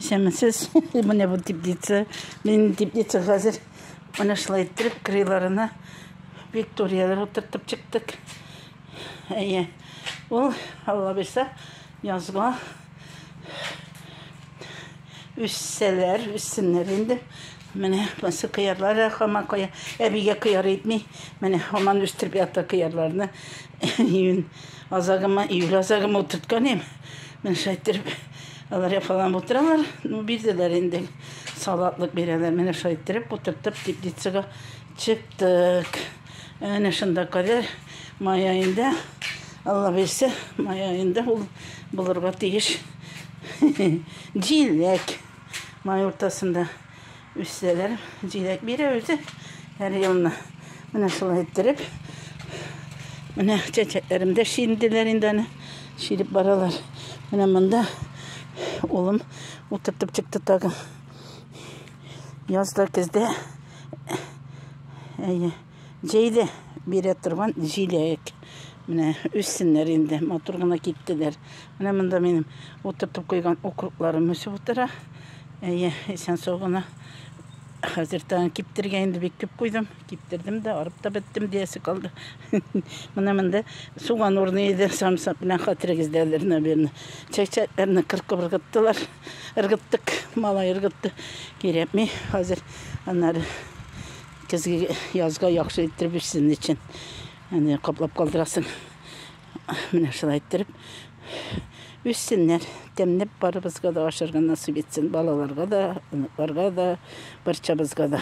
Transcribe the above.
Исәнмесез, менә бу теплица. Минем теплица хәзер менә шулай иттереп, крыларына викторияләр утыртып чыктык. Әйе, ул, алла бирсә, язга үссәләр, үссеннәр инде. Менә басы кыярлар хаман кая, әбигә кыяр итми. Менә хаман үстереп ята кыярларны. Июнь Азагыма, июль азагыма утыртканым. Менә шулай иттереп, алар яфаланып утыралар. Ну, бирделәр инде. Салатлык бирәләр. Менә шулай иттереп, утыртып, теплицага чыктык. Әнә шунда кадәр май аенда, Алла бирсә, май аенда ул булырга тиеш. Җиләк май уртасында. Үссәләр, җиләк бирә үзе һәр елны. Менә шулай иттереп. Менә чәчәкләрем дә шиенделәр инде аны. Шиелеп баралар. Менә монда улым утыртып чыкты тагы. Язда көздә. Әйе. Җәйле бирә торган җиләк. Менә үссеннәр инде, матур гына киттеләр. Менә монда минем утыртып куйган укропларым үсеп утыра. Әйе, исән сау гына. Хәзер тагын киптергә инде бик күп куйдым. Киптердем дә, арып та беттем диясе калды. Менә монда суган урыны иде, самсап белән хәтерегездә әле, наверное. Чәчәкләрне кыркып ыргыттылар. Ыргыттык, малай ыргытты. Кирәкми хәзер аннары Көзге язга яхшы иттереп ич сезнең өчен. Әне каплап калдырасың. Менә шулай иттереп. Үссеннәр. Тәмләп барыбызга да ашарга насыйп итсен. Балаларга да, оныкларга да, барчабызга да.